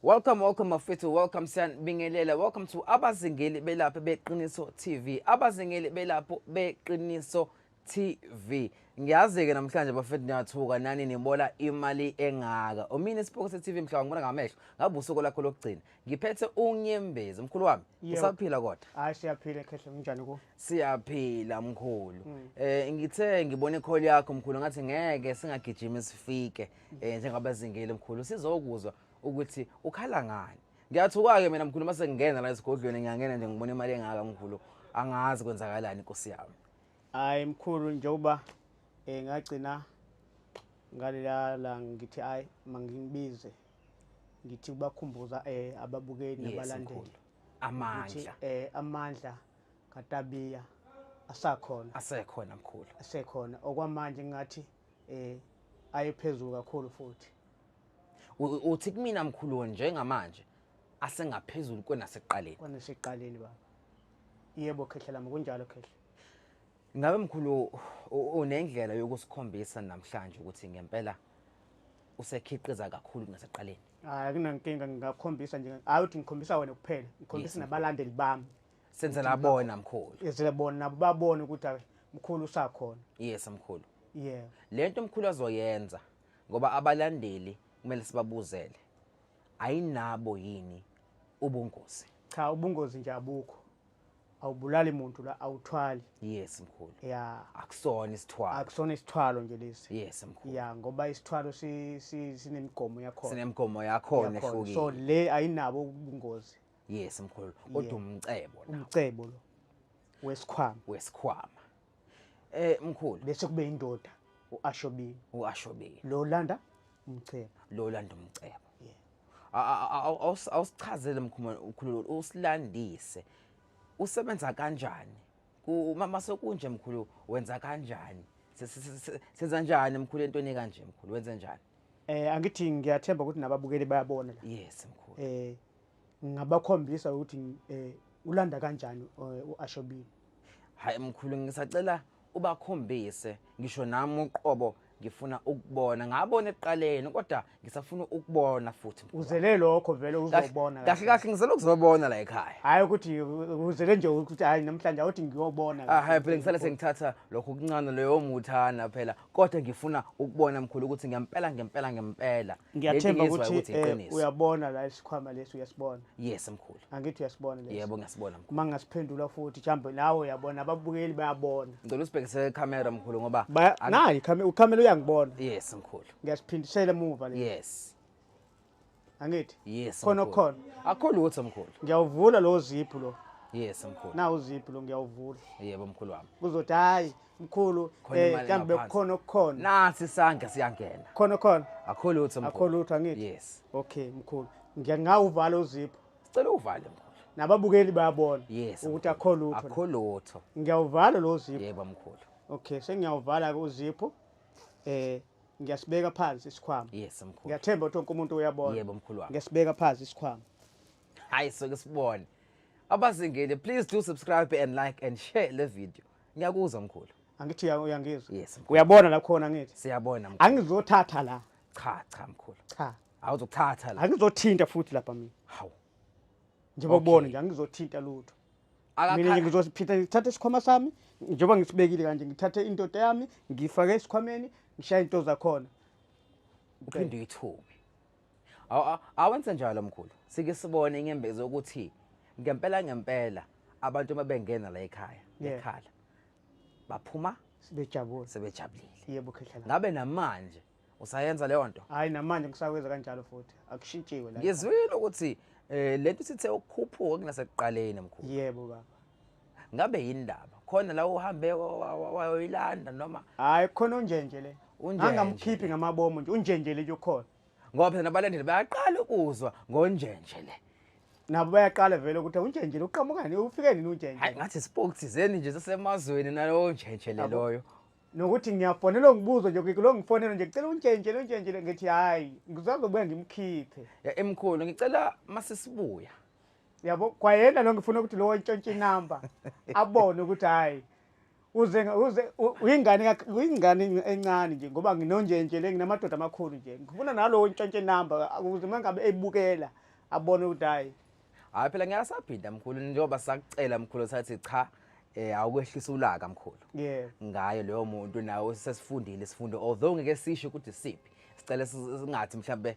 Welcome, welcome Mafethu, welcome Siyanibingelela. Welcome to Abazingeli Belapho Beqiniso TV. Abazingeli Belapho Beqiniso TV. Ngiyazi ke namhlanje bafethu niyathuka nani nibola imali engaka. Umina isiphoko se TV mhlawumbe ngibona ngamehlo. Ngabe usuku lakho lokugcina. Ngiphethe unyembezi umkhulu wami. Yebo. Usaphila kodwa. Hayi siyaphila khehle kunjani ku? Siyaphila mkhulu. Eh ngithe ngibona ikholi yakho mkhulu ngathi ngeke singagijima sifike. eh njengabazingeli mkhulu sizokuzwa ukuthi ukhala ngani ngiyathuka ke mina mkhulu mase ngingena la esigodlweni ngiyangena nje ngibona imali engaka mkhulu angazi kwenzakalani inkosi yami hayi mkhulu njengoba eh ngagcina ngalela la ngithi hayi mangibize ngithi kubakhumbuza eh ababukeli nabalandeli amandla eh amandla katabiya asakhona asekhona mkhulu asekhona okwamanje ngathi eh ayephezulu kakhulu futhi uthi kumina mkhulu njengamanje asengaphezulu kwenaseqaleni kwenaseqaleni baba yebo khehla lami kunjalo khehla ngabe mkhulu unendlela yokusikhombisa namhlanje ukuthi ngempela usekhiqiza kakhulu kunaseqaleni hayi kunankinga ngingakhombisa nje hayi uthi ngikhombisa wena kuphela ngikhombisa nabalandeli bami senzela abona mkhulu ezile bona nabo babone ukuthi ay, mkhulu usakhona yes mkhulu yeah lento mkhulu azoyenza ngoba abalandeli kumele sibabuzele ayinabo yini ubungozi cha ubungozi nje abukho awubulali muntu la awuthwali yes mkhulu ya akusona isithwalo akusona isithwalo nje lesi yes mkhulu ya ngoba isithwalo si- si- sinemigomo yakhona sinemigomo yakhona yakhona. so ehlukile le ayinabo ubungozi yes mkhulu kodwa Yeah. umcebo la umcebo lo wesikhwama wesikhwama eh mkhulu bese kube indoda uashobile uashobile lo landa umcebo lo landa umcebo Yeah. A- a- a- awu- awus- awusichazele mkhulu mkhulu usilandise usebenza kanjani Ku- ma- mase kunje mkhulu wenza kanjani Se- se- se- se- senza njani mkhulu entweni kanje mkhulu wenza njani eh angithi ngiyathemba ukuthi nababukeli bayabona la yes mkhulu eh ngingabakhombisa ukuthi eh ulanda kanjani eh, uAshobile hayi mkhulu ngisacela ubakhombise ngisho nami uqobo ngifuna ukubona ngabona eqaleni kodwa ngisafuna ukubona futhi uzele lokho vele uzobona kahle kahle ngizele ukuzobona la ekhaya hayi ukuthi uzele nje ukuthi hayi namhlanje awuthi ngiyobona ah hayi phela ngisale sengithatha lokho kuncane leyo muthana phela kodwa ngifuna ukubona mkhulu ukuthi ngempela ngempela ngempela ngiyathemba ukuthi eh, uyabona la isikhwama lesi uyasibona yes mkhulu angithi uyasibona lesi yebo ngasibona mkhulu manga siphendula futhi chambe nawe uyabona ababukeli bayabona ngicela usibhekise camera mkhulu ngoba nayi camera ucamera uyangibona yes mkhulu ngiyasiphindisela emuva lesi yes angithi yes khona khona akho lutho mkhulu ngiyawuvula lo ziphu lo yes mkhulu na uziphu lo ngiyawuvula yebo mkhulu wami kuzothi hayi mkhulu Khona eh imali mhlawumbe engaphansi. kukhona okukhona nasi isandla siyangena khona khona akho lutho akho mkhulu lutho angithi yes okay mkhulu ngiya ngawuvala uzipho sicela uvale mkhulu nababukeli bayabona yes ukuthi mkhulu. akho lutho akho lutho ngiyawuvala lo zipho yebo mkhulu okay sengiyawuvala ke uzipho eh ngiyasibeka phansi isikhwama yes mkhulu ngiyathemba ukuthi wonke umuntu uyabona Yebo, mkhulu wami. ngesibeka phansi isikhwama hayi soke sibone abazingile please do subscribe and like and share le video Ngiyakuzwa mkhulu. Angithi uya- uyangizwa. Yes. mkhulu. Uyabona la khona ngithi. Siyabona mkhulu. Angizothatha la. Cha cha mkhulu. Cha. Awuzokuthatha la. Angizothinta futhi lapha mina. Hawu. Njengoba Okay. ubona nje angizothinta lutho. Mina nje Akakha. ngizosiphinda ngithathe isikhwama sami njengoba ngisibekile kanje ngithathe indoda yami ngifake esikhwameni ngishaye into zakhona. Uphinde uyithume. awenze njalo mkhulu sike sibone inyembezi ukuthi ngempela ngempela abantu uma bengena la ekhaya ekhala baphuma sebejabule sebejabulile yebo khehlala ngabe namanje usayenza leyo nto hayi namanje ngisakwenza kanjalo futhi akushintshiwe la ngizwile ukuthi eh lento sithe ukukhuphuka kunasekuqaleni mkhulu yebo baba ngabe yini ndaba khona la uhambe wayoyilanda noma hayi khona unjenje le angamkhiphi ngamabomu nje unjenje le nje ukhona ngoba phela nabalandeli bayaqala ukuzwa ngonjenje le nabo bayaqala vele ukuthi unjenje le uqhamukani ufike nini unjenje hayi ngathi spoke thizeni nje sasemazweni nalowo njenje le loyo nokuthi ngiyafonela ngibuzo nje kulo ngifonela nje ngicela unjenje lo njenje le ngithi hayi ngizazobuya ngimkhiphe ya emkhulu ngicela masisibuya yabo kwayena lo ngifuna ukuthi lowo ntshontshe inamba abone ukuthi hhayi uze uze uyingane uyingane encane nje ngoba nginonjenje le nginamadoda amakhulu nje ngifuna nalowo ntshontshe inamba ukuze uma ngabe ebukela abone ukuthi hhayi hhayi phela ngiyasaphinda mkhulu njengoba sakucela mkhulu sathi cha eh awukwehlisa ulaka mkhulu yeah ngayo leyo muntu nawe sesifundile isifundo although ngeke sisho ukuthi siphi sicela singathi mhlambe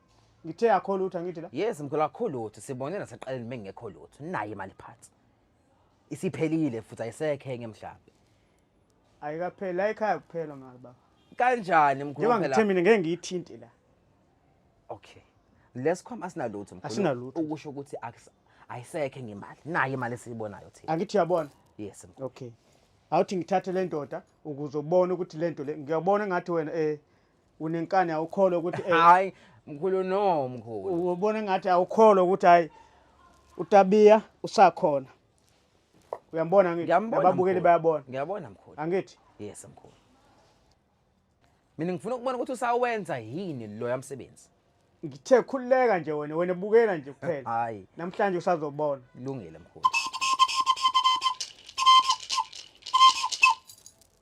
ngithe akho lutho angithi la yes mkhulu akho lutho sibone nasaqaleni mengekho lutho naye imali phansi isiphelile futhi ayisekhe ngemhlawumbe ayikapheli la ekhaya kuphela mali baba kanjani mkhulu njengoba ngithe mina ngeke ngiyithinte la okay lesikhwama asinalutho mkhulu asinalutho ukusho ukuthi ayisekhe ngemali naye imali esiyibonayo thina angithi uyabona yes mkhulu okay awuthi ngithathe le ndoda ukuze ubone ukuthi le nto le ngiyabona ngathi wena eh unenkani awukholwa ukuthi eh, hayi mkhulu no mkhulu ubona ngathi awukholwa ukuthi hayi utabiya usakhona uyambona ngithi Ngiyambona, ababukeli mkhulu. bayabona ngiyabona mkhulu angithi yes mkhulu mina ngifuna ukubona ukuthi usawenza yini loya msebenzi ngithe khululeka nje wena wena bukela nje kuphela hayi namhlanje usazobona kulungile mkhulu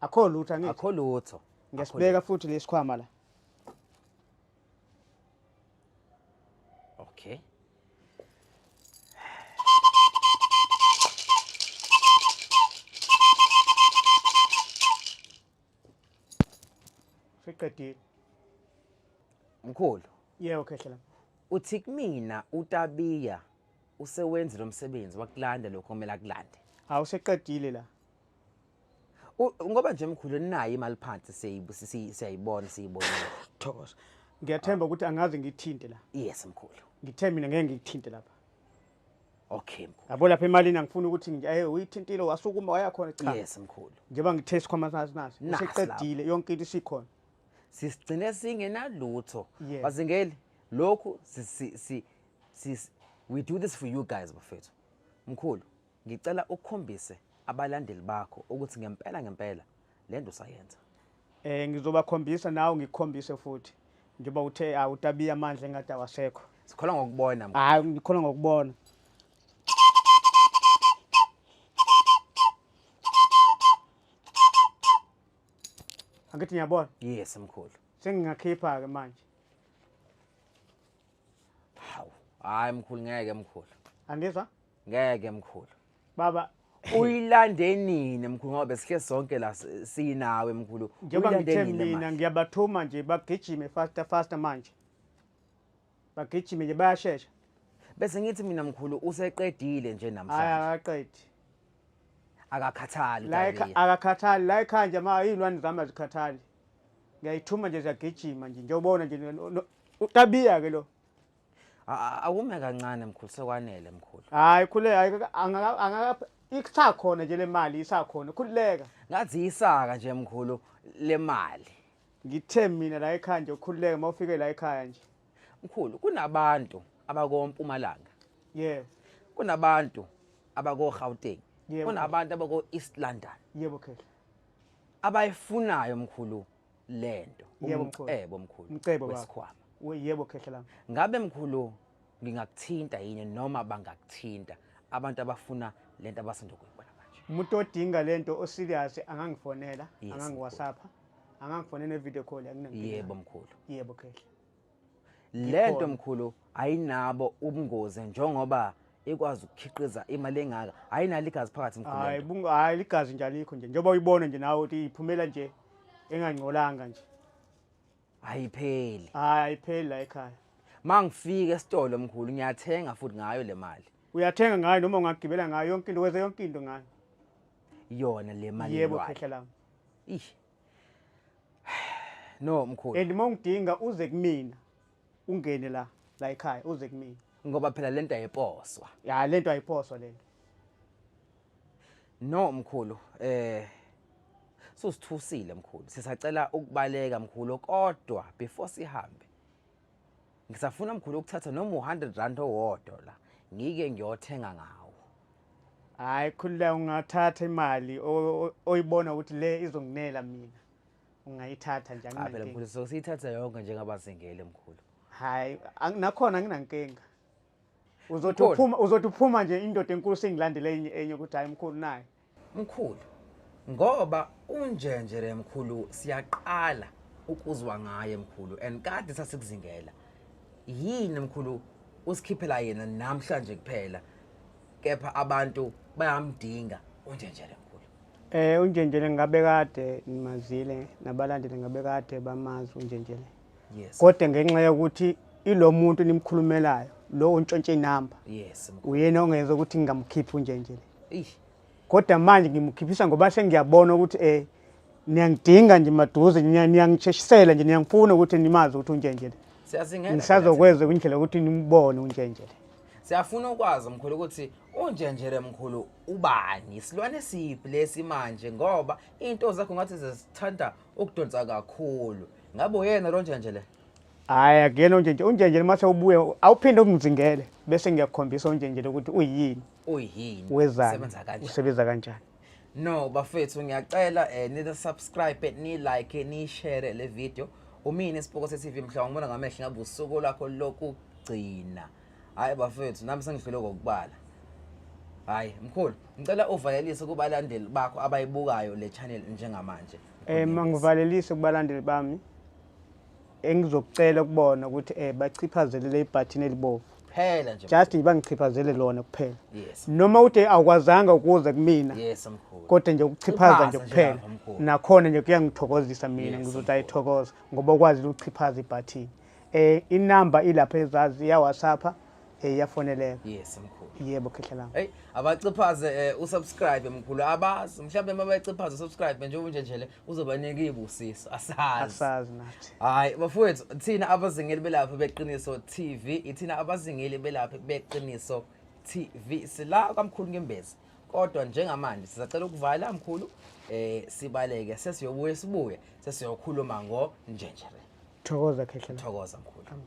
akho lutho angithi akho lutho ngisibeka futhi lesikhwama la okay Fiqedile. Mkhulu. Yeah, okay hlela. Uthi kumina uTabiya usewenzile umsebenzi wakulanda lokho kumele akulande. Hawu seqedile la. ngoba nje mkhulu nayo imali phansi siyayibona siyibona thokoza ngiyathemba ukuthi angaze ngithinte la yes mkhulu ngithe mina ngeke ngikuthinte lapha okay mkhulu yabo lapha emalini angifuni ukuthi ngiyaye uyithintile wasukuma waya khona cha yes mkhulu njengoba ngithe isikhwama sazi naso useqedile yonke into isikhona sisigcine singenalutho bazingeli lokhu si si si we do this for you guys bafethu mkhulu Ngicela ukhombise abalandeli bakho ukuthi ngempela ngempela lento usayenza. Eh ngizobakhombisa nawe ngikhombise futhi. Njengoba uthe awutabiya ah, amandla engathi awasekho. Sikholwa ngokubona. Hayi ngikholwa ngokubona. Angithi ngiyabona? Yes mkhulu. Sengingakhipha ke manje. Hawu, hayi mkhulu ngeke mkhulu. Angizwa? ngeke mkhulu baba uyilande nini mkhulu ngoba besihle sonke la si- sinawe mkhulu njengoba Uyilande ngithe nini mina manje? ngiyabathuma nje bagijime faster faster manje bagijime nje bayashesha bese ngithi mina mkhulu useqedile nje hhayi namhlanje akaqedi akakhathali la ekha- uTalia. akakhathali la ekhaya nje ma iy'lwane zami azikhathali ngiyayithuma nje ziyagijima nje njengobona nje no- no- utabiya-ke lo awume kancane mkhulu sekwanele mkhulu hayi khule hayi angaka isakhona nje lemali isakhona khululeka ngathi isaka nje mkhulu lemali ngithe mina la ekhaya nje ukhululeke uma ufike la ekhaya nje mkhulu kunabantu abakompumalanga yebo kunabantu abakoGauteng kunabantu abako-east london yebo khehla abayifunayo mkhulu lento Yebo, mkhulu. umcebo mkhulu Mcebo baba. wesikhwama We- yebo khehla lami ngabe mkhulu ngingakuthinta yini noma bangakuthinta abantu abafuna lento abasanda kuyibona manje umuntu odinga lento oserious angangifonela Yes, angangiwasapha angangifonela ne-video call anginankinga. yebo mkhulu yebo khehla lento mkhulu ayinabo ubungozi njengoba ikwazi ukukhiqiza imali engaka ayinalo igazi phakathi mkhulu hayi ligazi nje alikho nje njengoba uyibona nje nawe ukuthi iphumela nje engangcolanga nje ayipheli hayi ayipheli la ekhaya mangifika esitolo mkhulu ngiyathenga futhi ngayo le mali uyathenga ngayo noma ungagibela ngayo yonke into wenze yonke into ngayo yona le mali yebo khehla lami ish no mkhulu and uma ungidinga uze kumina ungene la la ekhaya uze kumina ngoba phela lento ayiposwa ya lento ayiposwa lento no mkhulu eh susithusile mkhulu sisacela ukubaleka mkhulu kodwa before sihambe ngisafuna mkhulu ukuthatha noma u-100 rand owodwa la ngike ngiyothenga ngawo hayi khulula ungathatha imali oyibona ukuthi le izonginela mina ungayithatha nje aphela mkhulu so siyithatha yonke njengabazingeli mkhulu hayi nakhona nginankinga uzothi Mkhulu. uphuma uzothi uphuma nje indoda enkulu sengilandela enye enye ukuthi hayi mkhulu naye mkhulu ngoba unjenje le mkhulu siyaqala ukuzwa ngaye mkhulu and kade sasikuzingela yini mkhulu usikhiphela yena namhlanje kuphela kepha abantu bayamdinga unjenje le mkhulu eh unjenjele ngabe kade nimazile nabalandeli ngabe kade bamazi unjenjele yes. kodwa ngenxa yokuthi ilo muntu nimkhulumelayo lo untshontshe inamba yes, uyena ongenza ukuthi ngingamukhiphi unje nje kodwa manje ngimukhiphisa ngoba sengiyabona ukuthi um niyangidinga nje maduze niyangisheshisela nje niyangifuna ukuthi nimazi ukuthi unjenjele ngisazokwenza kwindlela yokuthi nimbone unjenjele siyafuna ukwazi mkhulu ukuthi unjenjele mkhulu ubani isilwane siphi lesi manje ngoba into zakho ngathi zesithanda ukudonsa kakhulu ngabe uyena lo njenje le hayi akuyena unjenje unjenje uma sewubuye awuphinde umzingele bese ngiyakukhombisa unjenje lokuthi uyini uyini wezani usebenza kanjani no bafethu ngiyacela um eh, nisubscribe nilike niyishere le video umini isipoko se-tv mhlawumbe ngibona ngamehlo ngabe usuku lakho lokugcina hhayi bafethu nami sengidlule kokubala hhayi mkhulu ngicela uvalelise kubalandeli bakho abayibukayo le channel njengamanje Eh mangivalelise kubalandeli bami engizokucela kubona ukuthi eh bachiphazele le button elibovu. Phela nje. Just nje bangichiphazele lona kuphela. Yes. Noma uthe awukwazanga ukuze kumina. Yes mkhulu. Kodwa nje ukuchiphaza nje kuphela. Nakhona nje kuyangithokozisa mina ngizothi ayithokoza ngoba ukwazi ukuchiphaza ibutton. Eh inamba ilapha ezazi ya WhatsApp Eh yafoneleka. Yes mkhulu. Yebo khehla lami. Hey abaciphaze eh, usubscribe mkhulu abazi mhlawumbe uma beciphaze usubscribe njengoba nje nje le uzobanika ibusiso asazi. Asazi nathi. Hayi bafowethu thina abazingeli belapha beqiniso TV ithina abazingeli belapha beqiniso TV sila kamkhulu ngembezi kodwa njengamanje sizacela ukuvala mkhulu eh sibaleke sesiyobuye sibuye sesiyokhuluma ngo njenjere. Thokoza khehla. Thokoza mkhulu. Amen.